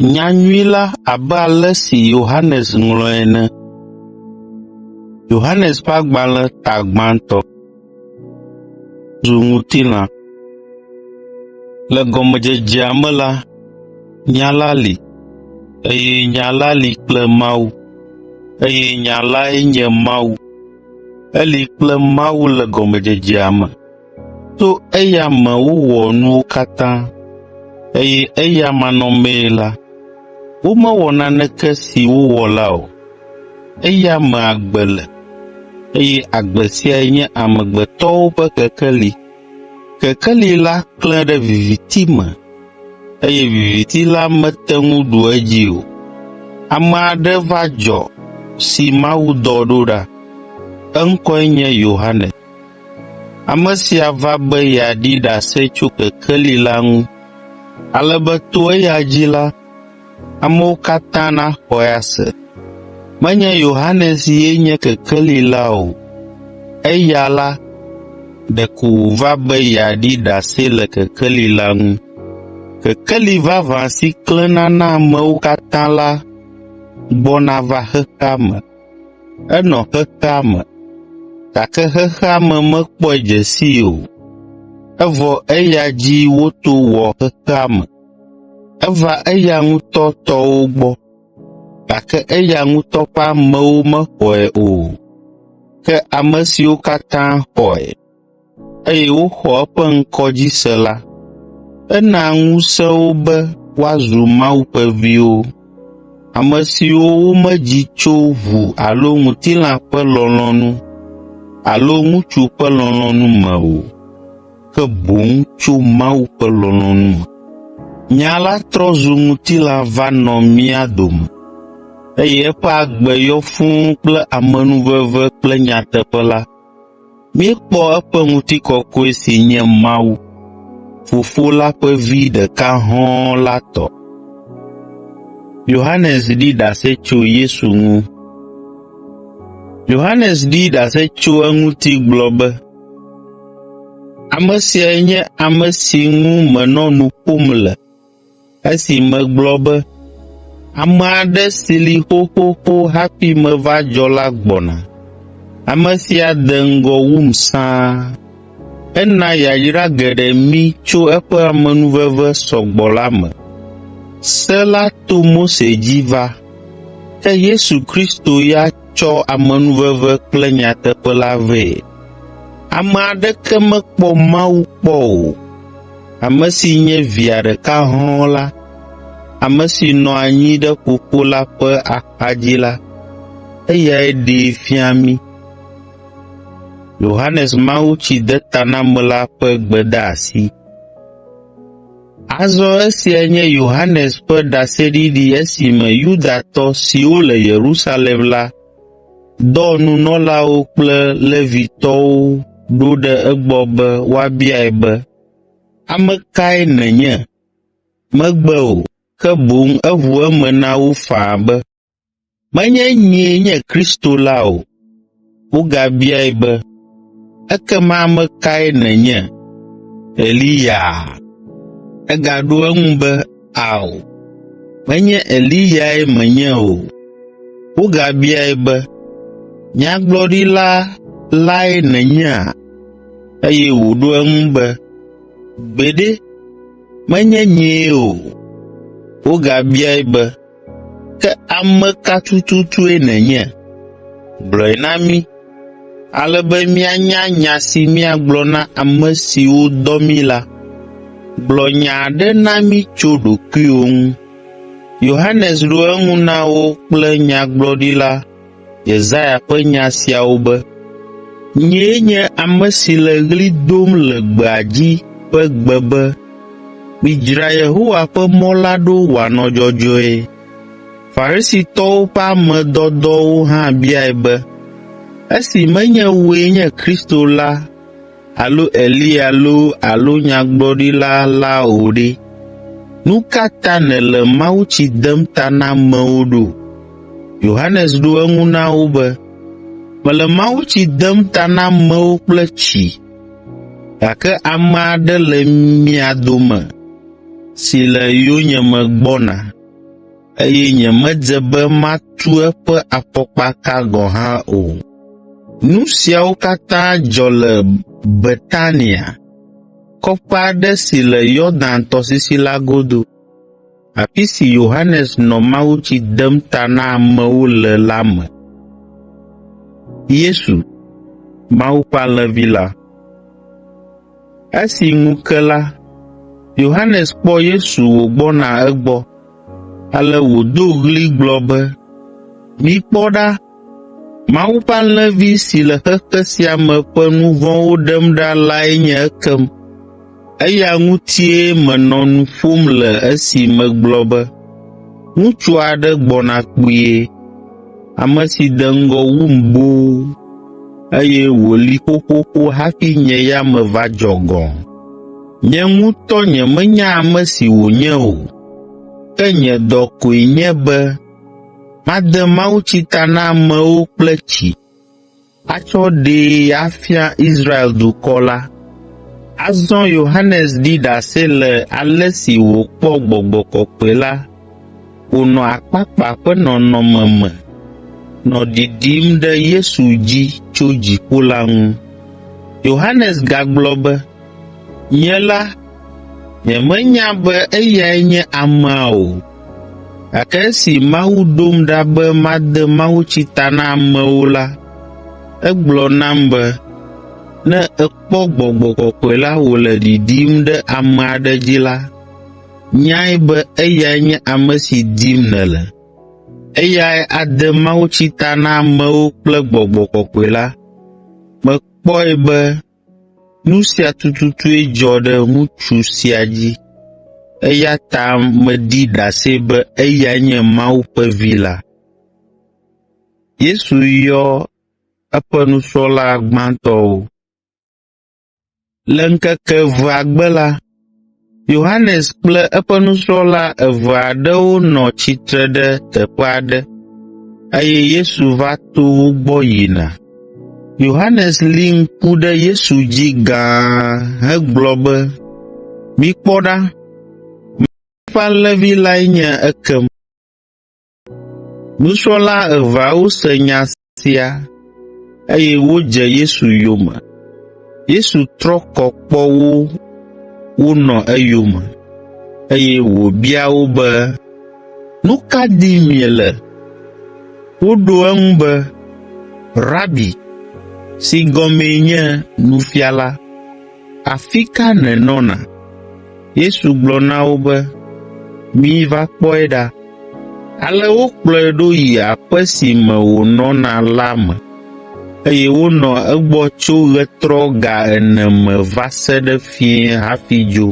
Nyanyui la abe ale si Yohanes ŋlɔe ene. Yohanes ƒe agbalẽ ta gbãtɔ zu ŋutilã. Le gɔmedzedzea me la, Nya la li, eye Nya la li kple Mawu, eye Nya lae nye Mawu. Eli kple Mawu le gɔmedzedzea me. To eya me wowɔ nuwo katã, eye eya manɔmee la, womewɔ naneke si wowɔ la o. Eya me agbe le, eye agbe siae nye amegbetɔwo ƒe kekeli. Kekeli la klẽ ɖe viviti me, eye viviti la mete ŋu ɖu edzi o. Ame aɖe va dzɔ si Mawu dɔ ɖo ɖa. Eŋkɔe nye Yohanes. Ame sia va be yeaɖi ɖase tso kekeli la ŋu, ale be to eya dzi la, amewo katã naxɔe ase. Menye Yohanes ye nye kekeli la o, eya la ɖeko wòva be yeaɖi ɖase le kekeli la ŋu. Kekeli vavã si klẽna na amewo katã la gbɔna va xexea me. Enɔ xexea me, gake xexea me mekpɔe dze sii o, evɔ eya dzi woto wɔ xexea me. Eva eya ŋutɔ tɔwo gbɔ, gake eya ŋutɔ ƒe amewo mexɔe o. Ke ame siwo katã xɔe, eye woxɔ eƒe ŋkɔ dzi se la, ena ŋusẽ wo be woazu Mawu ƒe viwo, ame siwo womedzi tso ʋu alo ŋutilã ƒe lɔlɔ̃nu alo ŋutsu ƒe lɔlɔ̃nu me o. ke boŋ tso Mawu ƒe lɔlɔ̃nu me. Nya la trɔ zu ŋutilã va nɔ mía dome, eye eƒe agbe yɔ fũu kple amenuveve kple nyateƒe la. Míekpɔ eƒe ŋutikɔkɔe si nye Mawu, Fofo la ƒe Vi ɖeka hɔ̃ la tɔ. Yohanes ɖi ɖase tso Yesu ŋu. Yohanes ɖi ɖase tso eŋuti gblɔ be, Ame siae nye ame si ŋu menɔ nu ƒom le esi megblɔ be, “Ame aɖe si li xoxoxo hafi meva dzɔ la gbɔna, ame sia de ŋgɔ wum sãa. Ena yayra geɖe mí tso eƒe amenuveve sɔ gbɔ la me.” Se la to Mose dzi va, ke Yesu Kristo ya tsɔ amenuveve kple nyateƒe la vɛ. Ame aɖeke mekpɔ Mawu kpɔ o, ame si nye Via ɖeka hɔ̃ɔ la, ame si nɔ anyi ɖe Fofo la ƒe axadzi la, eyae ɖee fia mí. Yohanes Mawutsidetanamela ƒe gbedeasi. Azɔ esia nye Yohanes ƒe ɖaseɖiɖi esime Yudatɔ siwo le Yerusalem la dɔ nunɔlawo kple Levitɔwo ɖo ɖe egbɔ be woabiae be, “Ame kae nènye?” Megbe o, ke boŋ eʋu eme na wo faa be, “Menye nyee nye Kristo la o.” Wogabiae be, “Ekema ame kae nènye? Eliyaa?” Egaɖo eŋu be, “Ao, menye Eliyae menye o.” Wogabiae be, “Nyagblɔɖila lae nènyea?” Eye wòɖo eŋu be, “Gbeɖe, menye nyee o.” Wogabiae be, Ke ame ka tututue nènye? Gblɔe na mí, ale be míanya nya si míagblɔ na ame siwo dɔ mí la. Gblɔ nya aɖe na mí tso ɖokuiwò ŋu.” Yohanes ɖo eŋu na wo kple nyagblɔɖila Yesaya ƒe nya siawo be, “Nyee nye ame si le ɣli dom le gbea dzi ƒe gbe be, ‘Midzra Yehowa ƒe mɔ la ɖo wòanɔ dzɔdzɔe.’ ” Farisitɔwo ƒe ame dɔdɔwo hã biae be, “Esi menye wòe nye Kristo la, alo Eliya loo alo nyagblɔɖila la o ɖe, nu ka ta nèle mawutsi dem ta na amewo ɖo?” Yohanes ɖo eŋu na wo be, “Mele mawutsi dem ta na amewo kple tsi, gake ame aɖe le mia dome si le yonyeme gbɔna, eye nyemedze be matu eƒe afɔkpaka gɔ̃ hã o. Nu siawo katã dzɔ le Betania, kɔƒe aɖe si le Yordan tɔsisi la godo, afi si Yohanes nɔ mawutsi dem ta na amewo le la me. Yesu, Mawu ƒe alẽvi la Esi ŋu ke la, Yohanes kpɔ Yesu wògbɔna egbɔ, ale wòdo ɣli gblɔ be, “Mikpɔ ɖa!” Mawu ƒe alẽvi si le xexe sia me ƒe nu vɔ̃wo ɖem ɖa lae nye ekem. Eya ŋutie menɔ nu ƒom le esi megblɔ be, ‘Ŋutsu aɖe gbɔna kpuie, ame si de ŋgɔ wum boo, eye wòli xoxoxo hafi nye ya meva dzɔ gɔ̃.’ Nye ŋutɔ nyemenya ame si wònye o, ke nye dɔ koe nye be Made mawutsi ta na amewo kple tsi, atsɔ ɖee afia Israel dukɔ la.” Azɔ Yohanes ɖi ɖase le ale si wòkpɔ Gbɔgbɔ Kɔkɔe la wònɔ akpakpa ƒe nɔnɔme me nɔ ɖiɖim ɖe Yesu dzi tso dziƒo la ŋu. Yohanes gagblɔ be, “Nye la, nyemenya be eyae nye amea o.” Gake esi Mawu ɖom ɖa be made mawutsi ta na amewo la, egblɔ nam be, “Ne èkpɔ Gbɔgbɔ Kɔkɔe la wòle ɖiɖim ɖe ame aɖe dzi la, nyae be eyae nye ame si dim nèle. Eyae ade mawutsi ta na amewo kple Gbɔgbɔ Kɔkɔe la.” Mekpɔe be Nu sia tututue dzɔ ɖe ŋutsu sia dzi, eya ta meɖi ɖase be eyae nye Mawu ƒe Vi la. Yesu yɔ eƒe nusrɔ̃la gbãtɔwo Le ŋkeke evea gbe la, Yohanes kple eƒe nusrɔ̃la eve aɖewo nɔ tsitre ɖe teƒe aɖe, eye Yesu va to wo gbɔ yina. Yohanes li ŋku ɖe Yesu dzi gãa hegblɔ be, “Mikpɔ ɖa, mía ƒe alẽvi lae nye ekem!” Nusrɔ̃la eveawo se nya sia, eye wodze Yesu yome. Yesu trɔ kɔ kpɔ wo wonɔ eyome, eye wòbia wo be, “Nu ka dim miele?” Woɖo eŋu be, “Rabi” (si gɔmee nye “Nufiala”). Afi ka nènɔna? Yesu gblɔ na wo be, Miva kpɔe ɖa. Ale wokplɔe ɖo yi aƒe si me wònɔna la me, eye wonɔ egbɔ tso ɣetrɔ ga ene me va se ɖe fiẽ hafi dzo.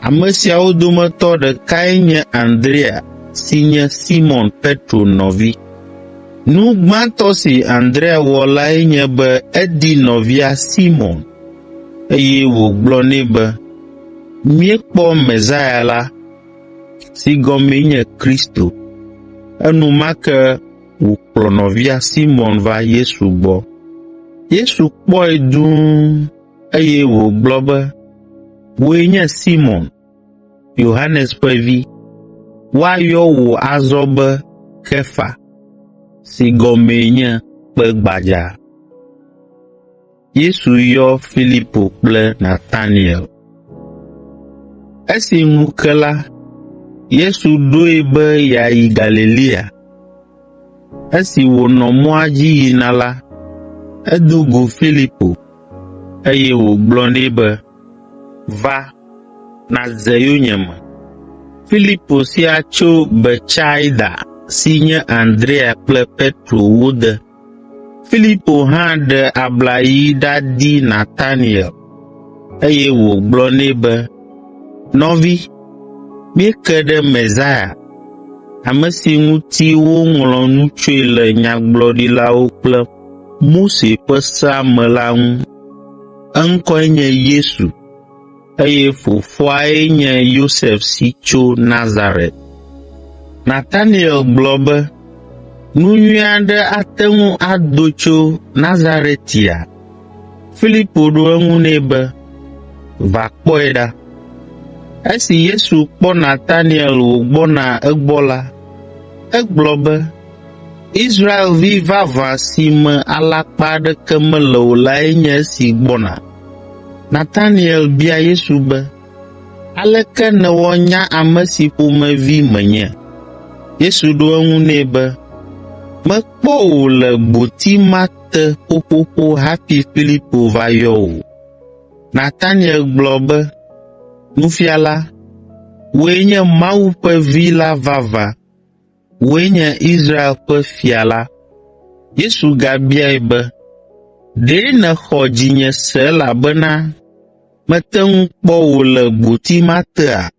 Ame siawo dometɔ ɖekae nye Andrea si nye Simɔn Petro nɔvi. Nu gbãtɔ si Andrea wɔ lae nye be edi nɔvia Simɔn, eye wògblɔ nɛ be, “Míekpɔ Mesia la” (si gɔmee nye Kristo). Enumake wòkplɔ nɔvia Simɔn va Yesu gbɔ. Yesu kpɔe dũu, Eye wògblɔ be, Wòe nye Simon, Yohanes ƒe vi. Woayɔ wò azɔ be Kefa, si gɔmee nye kpe gbadza. Yesu yɔ Filipo kple Nataniel. Esi ŋu ke la, Yesu ɖoe be yeayi Galilea. Esi wònɔ mɔa dzi yina la, edo go Filipo, eye wògblɔ nɛ be, “Va, nàdze yonyeme.” Filipo sia tso Betsaida si nye Andrea kple Petro wode. Filipo hã ɖe abla yi ɖadi Nataniel, eye wògblɔ nɛ be, “Nɔvi, míeke ɖe Mesia, ame si ŋuti woŋlɔ nu tsoe le nyagblɔɖilawo kple Mose ƒe Sea me la ŋu. Eŋkɔe nye Yesu, eye fofoae nye Yosef si tso Nazaret.” Nataniel gblɔ be, “Nu nyui aɖe ate ŋu ado tso Nazaretia?” Filipo ɖo eŋu nɛ be, “Va kpɔe ɖa.” Esi Yesu kpɔ Nataniel wògbɔna egbɔ la, egblɔ be, “Israelvi vavã si me alakpa aɖeke mele o lae nye esi gbɔna.” Nataniel bia Yesu be, “Aleke nèwɔ nya ame si ƒomevi menye?” Yesu ɖo eŋu nɛ be, “Mekpɔ wò le gboti ma te ƒoƒoƒo hafi Filipo va yɔ wò. Nataniel gblɔ be, “Nufiala, wòe nye Mawu ƒe Vi la vavã, wòe nye Israel ƒe Fia la.” Yesu gabiae be, “Ɖe nèxɔ dzinye se elabena mete ŋu kpɔ wò le gboti ma tea?”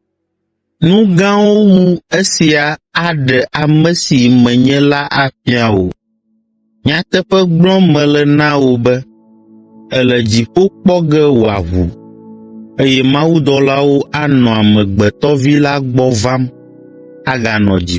Nu gãwo wu esia aɖe ame si menye la afia wò. Nyateƒe gblɔm mele na wò be, èle dziƒo kpɔ ge wòaʋu, eye mawudɔlawo anɔ Amegbetɔ Vi la gbɔ vam aganɔ dziƒo.